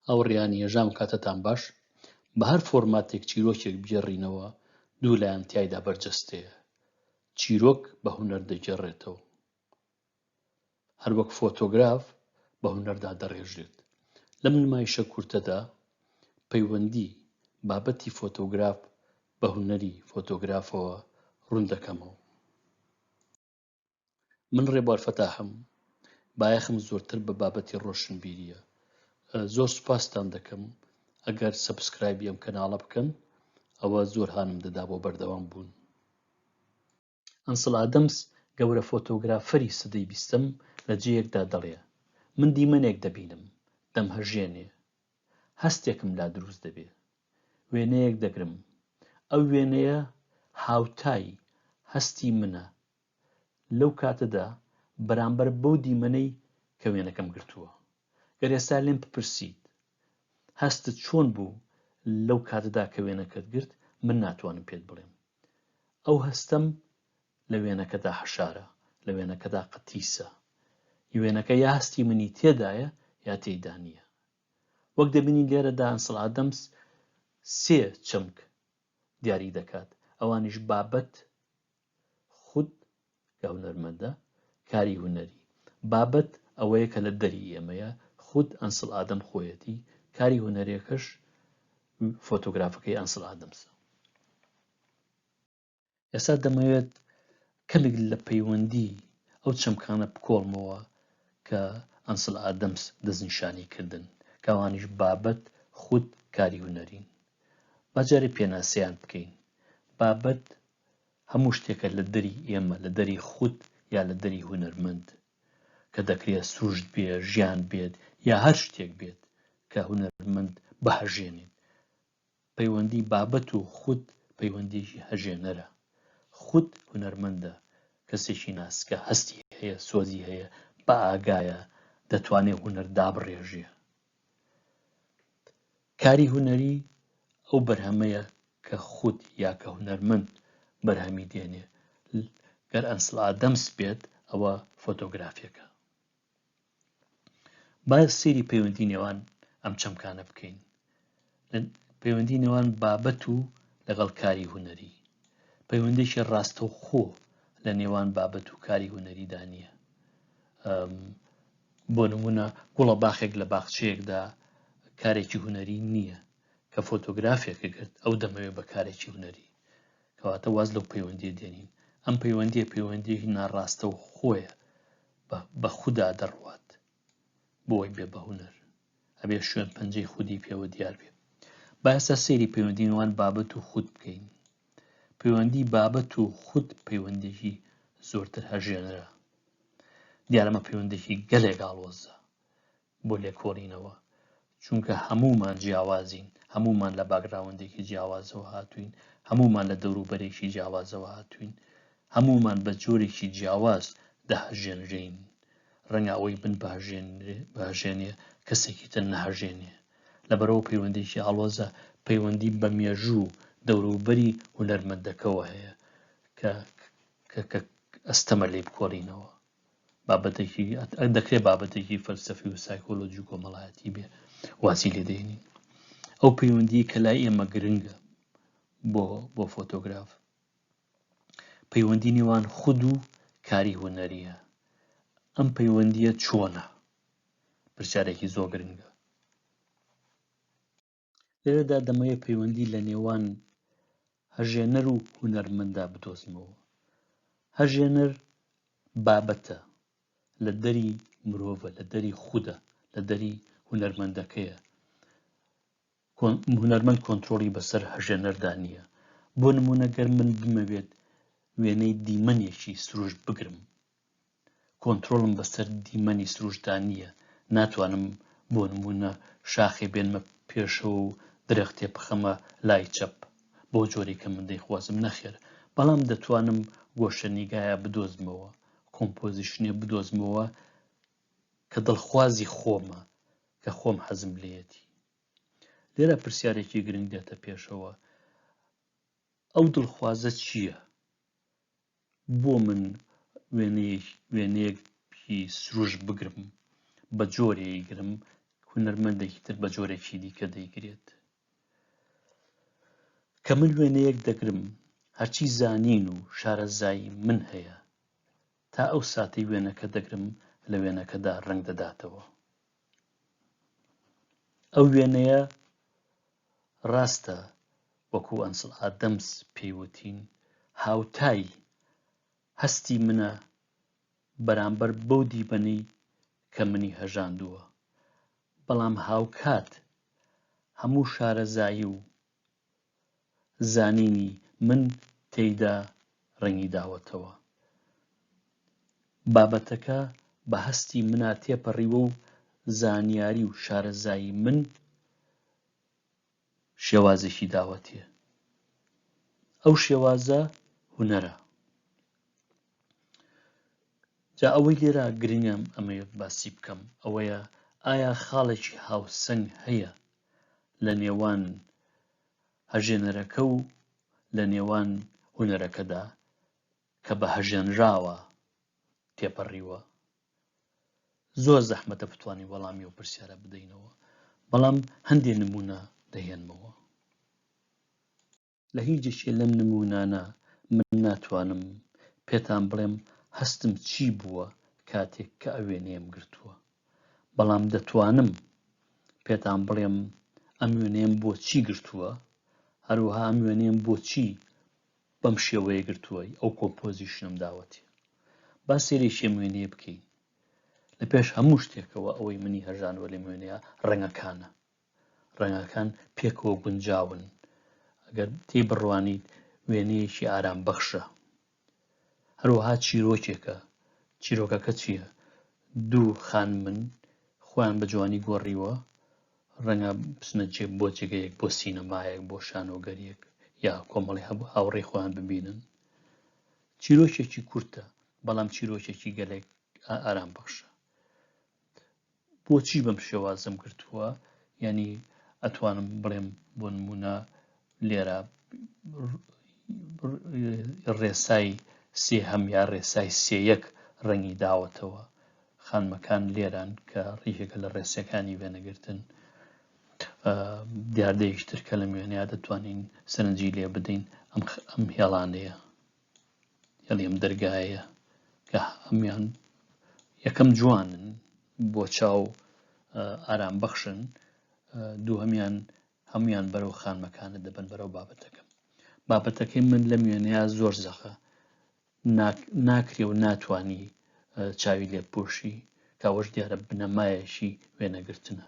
ئەو ڕیانیە ژام کاتەتان باش بە هەر فۆرماتێک چیرۆکێک بگێڕینەوە دوو لایەن تیایدا بەرجەستەیە چیرۆک بە هونەر دەگێڕێتەوە هەروەک فۆتۆگراف بە هونەردا دەڕێژێت لەم نمایشە کورتەدا پەیوەندی بابەتی فۆتۆگراف بە هونەری فۆتۆگرافەوە ڕوون دەکەمەوە من ڕێبوار فەتاحم بایەخم زۆرتر بە بابەتی ڕۆشنبیریە زۆر سوپاستان دەکەم ئەگەر سەبسکرایبی ئەم کەناڵە بکەن ئەوە زۆر هانم دەدا بۆ بەردەوام بوون ئەنسڵ ئادەمس گەورە فۆتۆگرافەری سەدەی بیستەم لە جێیەکدا دەڵێ من دیمەنێک دەبینم دەمهەژێنێ هەستێکم لا دروست دەبێ. وێنەیەک دەگرم. ئەو وێنەیە هاوتای هەستی منە لەو کاتەدا بەرامبەر بەو دیمەنەی کە وێنەکەم گرتووە. گەر ئێستا لێم بپرسیت هەستت چۆن بوو لەو کاتەدا کە وێنەکەت گرت من ناتوانم پێت بڵێم. ئەو هەستەم لە وێنەکەدا حەشارە، لە وێنەکەدا قەتیسە. وێنەکە یا هەستی منی تێدایە یا تێیدا نییە. وەک دەبینین لێرەدا هەنسڵ ئادەمس سێ چەمک دیاری دەکات ئەوانیش بابەت خود کە هونەرمەندە کاری هونەری بابەت ئەوەیە کە لە دەری ئێمەیە خود ئەنسڵ ئادەم خۆیەتی کاری هونەرێکەش فۆتۆگرافەکەی ئەنسڵ ئادەمسە ئێستا دەمەوێت کەمێک لە پەیوەندی ئەو چەمکانە بکۆڵمەوە کە ئەنسل ئادەمس دەستنیشانی کردن کاوانیش بابەت خود کاری هوەرین باجارێ پێناسەیان بکەین بابەت هەموو شتێکە لە دەری ئێمە لە دەری خود یا لە دەری هوەرمەند کە دەکرێت سروشت بێ ژیان بێت یا هەر شتێک بێت کە هوەرمەند بهژێنێت پەیوەندی بابەت و خود پەیوەندیەکی هەژێنەرە. خود هونەرمەندە، کەسێکی ناسکە، هەستی هەیە، سۆزی هەیە، بە ئاگایە، دەتوانێ هونەر دابڕێژێ. کاری هونەری ئەو بەرهەمەیە کە خود یا کە هونەرمەند بەرهەمی دێنێ گەر ئەنسل ئادەمس بێت ئەوە فۆتۆگرافیەکە با سەیری پەیوەندی نێوان ئەم چەمکانە بکەین لە پەیوەندی نێوان بابەت و لەگەڵ کاری هوەری پەیوەندێکی ڕاستەوخۆ لە نێوان بابەت و کاری هوەریدا نییە بۆ نمونە گوڵە باخێک لە باخچەیەکدا کارێکی هوەری نییە کە فۆتۆگرافێکە گرت ئەو دەمەوێت بە کارێکی هوەری کەواتە واز لەو پەیوەندی دێنین ئەم پەیوەندی پەیوەندی ناڕاستە و خۆیە بە خودا دەڕوات بۆی بێ بە هونەر ئەبێ شوێن پەنجەی خودی پێوە دیار بێ باسە سێری پەیوەندینوان بابەت و خود بکەین پەیوەندی بابەت و خود پەیوەندێکی زۆرتر هەژێنەرە دیارمە پەیوەندێکی گەلێک ئاڵۆزە بۆ لێکۆڵینەوە چونکە هەموومان جیاوازین هەموومان لە باکگراوندێکی جیاوازەوە هاتووین هەموومان لە دەوروبەرێکی جیاوازەوە هاتووین هەموومان بە جۆرێکی جیاواز دەهەژێنرێین ڕەنگە ئەوەی من بهژێنێ کەسێکی تر نەهژێنێ لەبەرەوە پەیوەندێکی ئاڵۆزە پەیوەندی بە مێژوو دەوروبەری هونەرمەندەکەەوە هەیە کە کە ئەستەمە لی بکۆڵینەوە بابەتێکی دەکرێت بابەتێکی فەلسەفی و سایکۆلۆژی و کۆمەڵایەتی بێ واسی لێ دێنین ئەو پەیوەندی کە لای ئێمە گرنگە بۆ بۆ فۆتۆگراف پەیوەندی نێوان خود و کاری هوەریە ئەم پەیوەندیە چۆنە پرسیارێکی زۆر گرنگە لێرەدا دەمەوێت پەیوەندی لە نێوان هەژێنەر و هونەرمەندا بدۆزمەوە هەژێنەر بابەتە لە دەری مرۆڤە لە دەری خودە لە دەری هونەرمەندەکەیە هونەرمەند کۆنتترۆڵی بەسەر هەژێنەردا نییە بۆ نمونەگەر من بمەوێت وێنەی دیمەنێکی سروش بگرم کۆنترۆڵم بەسەر دیمەنی سروشتدا نییە، ناتوانم بۆ نموونە شاخێ بێنمە پێشەوە و درەختێ بخەمە لای چەپ، بەو جۆرەی کە من دەیخوازم، نەخێر، بەڵام دەتوانم گۆشەنیگایە بدۆزمەوە، کۆمپۆزیشنێ بدۆزمەوە کە دڵخوازی خۆمە، کە خۆم حەزم لێیەتی. لێرە پرسیارێکی گرنگ دێتە پێشەوە، ئەو دڵخوازە چییە؟ بۆ من وێنەیەکی سروشت بگرم بە جۆرێ ئەیگرم هونەرمەندێکی تر بە جۆرێکی دیکە دەیگرێت کە من وێنەیەک دەگرم هەرچی زانین و شارەزایی من هەیە تا ئەو ساتی وێنەکە دەگرم لە وێنەکەدا ڕنگ دەداتەوە ئەو وێنەیە ڕاستە وەکو ئەنسڵ ئادەمس پێی وتین هاوتای هەستی منە بەرامبەر بەو دیمەنەی کە منی هەژاندووە، بەڵام هاوکات هەموو شارەزایی و زانینی من تێیدا ڕەنگیداوەتەوە. بابەتەکە بە هەستی منا تێپەڕیوە و زانیاری و شارەزایی من شێوازێکی داوەتێ. ئەو شێوازە هونەرە. جا ئەوەی لێرە گرنگم ئەمەوێت باسی بکەم ئەوەیە ئایا خاڵێکی هاوسەنگ هەیە لە نێوان هەژێنەرەکە و لە نێوان هونەرەکەدا کە بە هەژێنراوە تێپەڕیوە؟ زۆر زەحمەتە بتوانین وەڵامی ئەو پرسیارە بدەینەوە بەڵام هەندێ نمونە دەهێنمەوە لە هیچێکێ لەم نمونانە من ناتوانم پێتان بڵێم هەستم چی بووە کاتێک کە ئەوێنەیەم گرتووە بەڵام دەتوانم پێتان بڵێم ئەم وێنەیەم بۆ چی گرتووە، هەروەها ئەم وێنەیەم بۆ چی بەم شێوەیە گرتووە، ئەو کۆمپۆزیشنەم داوەتێ. با سەیرێکی ئەم وێنەیە بکەین. لە پێش هەموو شتێکەوە ئەوەی منی هەژانەوە لەم وێنەیە ڕەنگەکانە. ڕەنگەکان پێکەوە گونجاون. ئەگەر تێی بڕوانیت وێنەیەکی ئارام بەخشە. هەروەها چیرۆکێکە، چیرۆکەکە چییە؟ دوو خانمن خۆیان بە جوانی گۆڕیوە، ڕەنگە بچنە جێ بۆ جێگەیەک بۆ سینەمایەک بۆ شانۆگەریەک یا کۆمەڵی هەبوو هاوڕێی خۆیان ببینن چیرۆکێکی کورتە بەڵام چیرۆکێکی گەلێک ئارام بەخشە بۆچی بەم شێوازەم گرتووە یانی ئەتوانم بڵێم بۆ نمونە لێرە ڕێسای سێ هەم یا ڕێسای سێیەک ڕەنگی داوەتەوە خانمەکان لێران کە ڕیژێکە لە ڕێسەکانی وێنەگرتن دیاردەیشتر کە لە مێنیا دەتوانین سەرنجی لێ بدەین ئەم ئەم هێڵانەیە یعنی ئەم دەرگایە کە هەمیان یەکەم جوانن بۆ چاو ئارام بەخشن دووهمیان هەمویان بەرەو خانمەکانە دەبن بەرەو بابەتەکەم بابەتەکەی من لە میێنەیە زۆر زەخە ناکرێ و ناتانی چاوی لێ پۆشی کاوەش دیارە بنەمایەکی وێنەگرتنە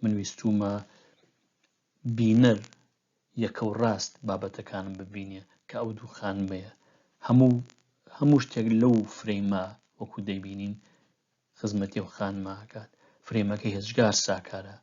من ویستومە بینەر یەکەو ڕاست بابەتەکانم ببینێ کە ئەو دوو خانمەیە هەموو هەموو شتێک لەو فرەیمە وەکو دەیبینین خزمەتی و خانماکات فرەیمەکە هێزگار ساکارە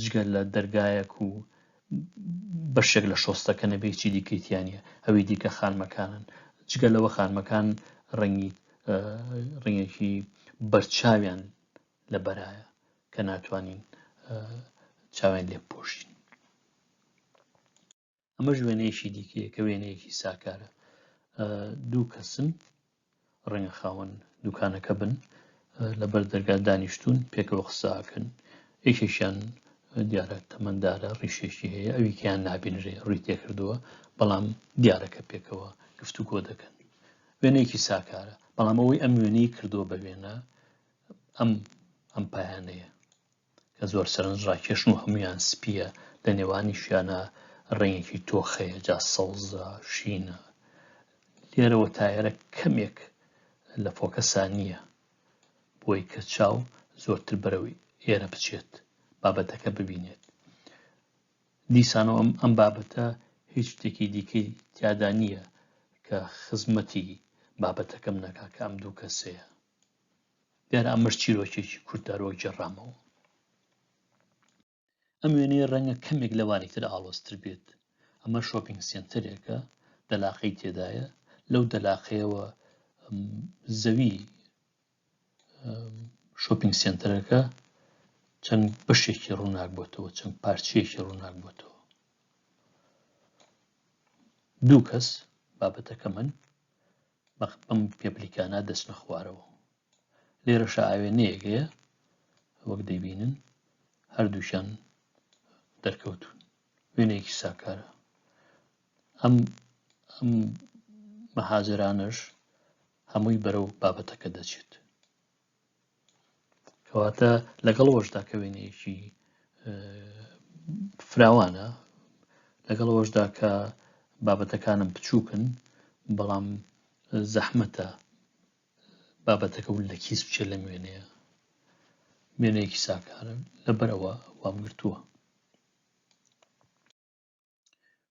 جگەر لە دەرگایەک و بەشێک لە شۆستەکە نەبێ چی دیکەیتیانە ئەوی دیکە خانمەکانن جگە لەوە خانمەکان ڕەنگی ڕنگێکی بەرچاویان لە بەرایە کە ناتوانین چاوێن لێ بپۆشین ئەمەش وێنەیەکی دیکەیە کە وێنەیەکی ساکارە دوو کەسن ڕەنگە خاوەن دوکانەکە بن لەبەر دەرگا دانیشتون پێکەوە قساکەن یەکێکیان دیارە تەمەندارە ڕیشێکی هەیە ئەویکیان نابینرێ ڕووی تێکردووە بەڵام دیارەکە پێکەوە گفت و گۆ دەکەن وێنەیەکی ساکارە بەڵام ئەوەی ئەم وێنەی کردووە بە وێنە ئەم ئەم پایانەیە کە زۆر سەرنجڕاکێشن و هەموویان سپییە لە نێوانیشیانە ڕەنگێکی تۆخەیە جا سەوزە شینە لێرەوە تایەرە کەمێک لە فۆکەسا نییە بۆی کە چاو زۆرتر بەرەوەی ئێرە بچێت بابەتەکە ببینێت دیسانەوە ئەم ئەم بابەتە هیچ شتێکی دیکەی تیادا نییە کە خزمەتی بابەتەکەم نەکا کە ئەم دوو کەسەیە دیارە ئەمەش چیرۆکێکی کوردارۆ گێڕامەوە ئەم وێنەیە ڕەنگە کەمێک لەوانی تر ئاڵۆزتر بێت ئەمە شۆپینگ سنتەرێکە دەلاقەی تێدایە لەو دەلاقەیەوە زەوی شۆپینگ سنتەرەکە چەند بەشێکی ڕووناک بۆتەوە چەند پارچەیەکی ڕووناک بۆتەوە دوو کەس بابەتەکە من ئەم پێپلیکانە دەچنە خوارەوە لێرەشە ئاوێنەیەک هەیە وەک دەبینن هەردووشان دەرکەوتون وێنەیەکی ساکارە ئەم ئەم مەهاجرانەش هەمووی بەرەو بابەتەکە دەچێت کەواتە لەگەڵ وەشدا کە وێنەیەکی فراوانە لەگەڵ وەشدا کە بابەتەکانم بچووکن بەڵام زەحمەتە بابەتەکە و لە کیس بچێت لە وێنەیە وێنەیەکی ساکارە لەبەرەوە وام گرتووە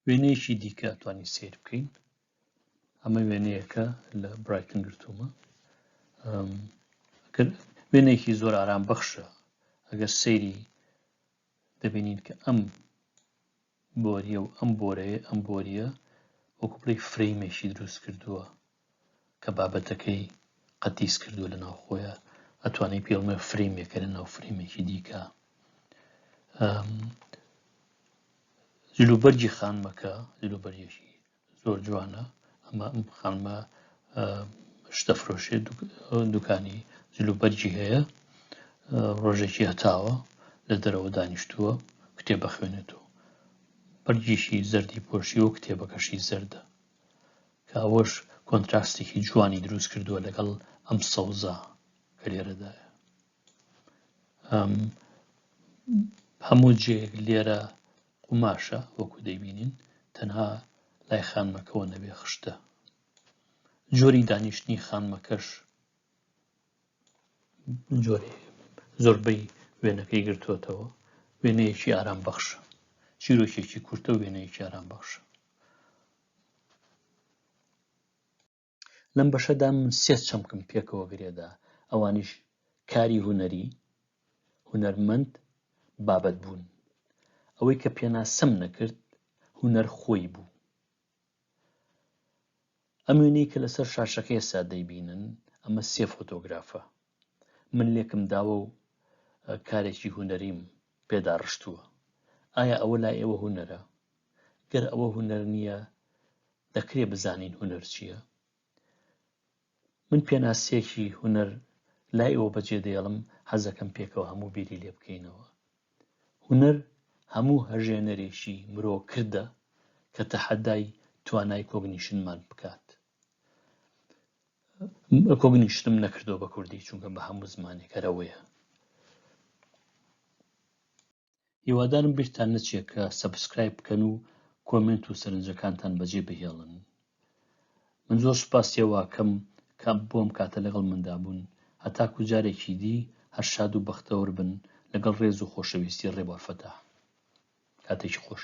وێنەیەکی دیکە توانین سیر بکەین ئەمە وێنەیەکە لە برایتن گرتومە وێنێکی زۆر ئارام بەخشە ئەگەر سەیری دەبینین کە ئەم بۆریە و ئەم بۆرەیە ئەم بۆریە وەکوپڵی فرەیمێکی دروست کردووە کە بابەتەکەی قەتیس کردووە لە ناو خۆیە ئەتوانێت پێ بڵێ فرەیمێکە لە ناو فرەیمێکی دیکە جلوبەرگی خانمەکە جلوبەرگێکی زۆر جوانە ئەمە ئەم خانمە شتە فرۆشێ دوکانی جلوبەرگی هەیە ڕۆژێکی هەتاوە لە دەرەوە دانیشتووە کتێبە خوێنێتەوە بەرگیشی زەردی پۆشی و کتێبەکەشی زەردە کە ئەوەش کۆنتراستێکی جوانی دروست کردووە لەگەڵ ئەم سەوزە کە لێرەدایە هەموو جێک لێرە قوماشە وەکو دەیبینین تەنها لای خانمەکەەوە نەبێ خشتە جۆری دانیشتنی خانمەکەش جۆرێ زۆربەی وێنەکەی گرتووەتەوە وێنەیەکی ئارام بەخشە چیرۆکێکی کورتە وێنەیەکی ئارام بەخشە لەم بەشەدا من سێ چەمکم پێکەوە گرێدا ئەوانیش کاری هوەری هوەرمەند بابەت بوون ئەوەی کە پێناسەم نەکرد هوەر خۆی بوو ئەم وێنەی کە لەسەر شاشەکە ئێستا دەیبینن ئەمە سێ فۆتۆگرافە من لێکم داوە و کارێکی هوەریم پێدا ڕشتووە ئایا ئەوە لای ئێوە هوەرە گەر ئەوە هوەر نییە دەکرێ بزانین هوەر چییە من پێناسەیەکی هونەر لای ئەوە بەجێ دێڵم حەزەکەم پێکەوە هەموو بیری لێ بکەینەوە هونەر هەموو هەژێنەرێکی مرۆ کردە کە تەحەدای توانای کۆگنیشنمان بکات کۆگنیشتم نەکردو بە کوردی چونکە بە هەموو زمانێکەرەوەیە هیوادارم بیرتان نەچێت کە سەبسکرایب بکەن و کۆمنت و سەرنجەکانتان بەجێ بهێڵن من زۆر سپاسیەواکەم کە بۆم کاتە لەگەڵ مندا بوون هەتاکو جارێکی دی هەر شاد و بەختەوەر بن لەگەڵ ڕێز و خۆشەویستی ڕێبەرفەتا کاتێکی خۆش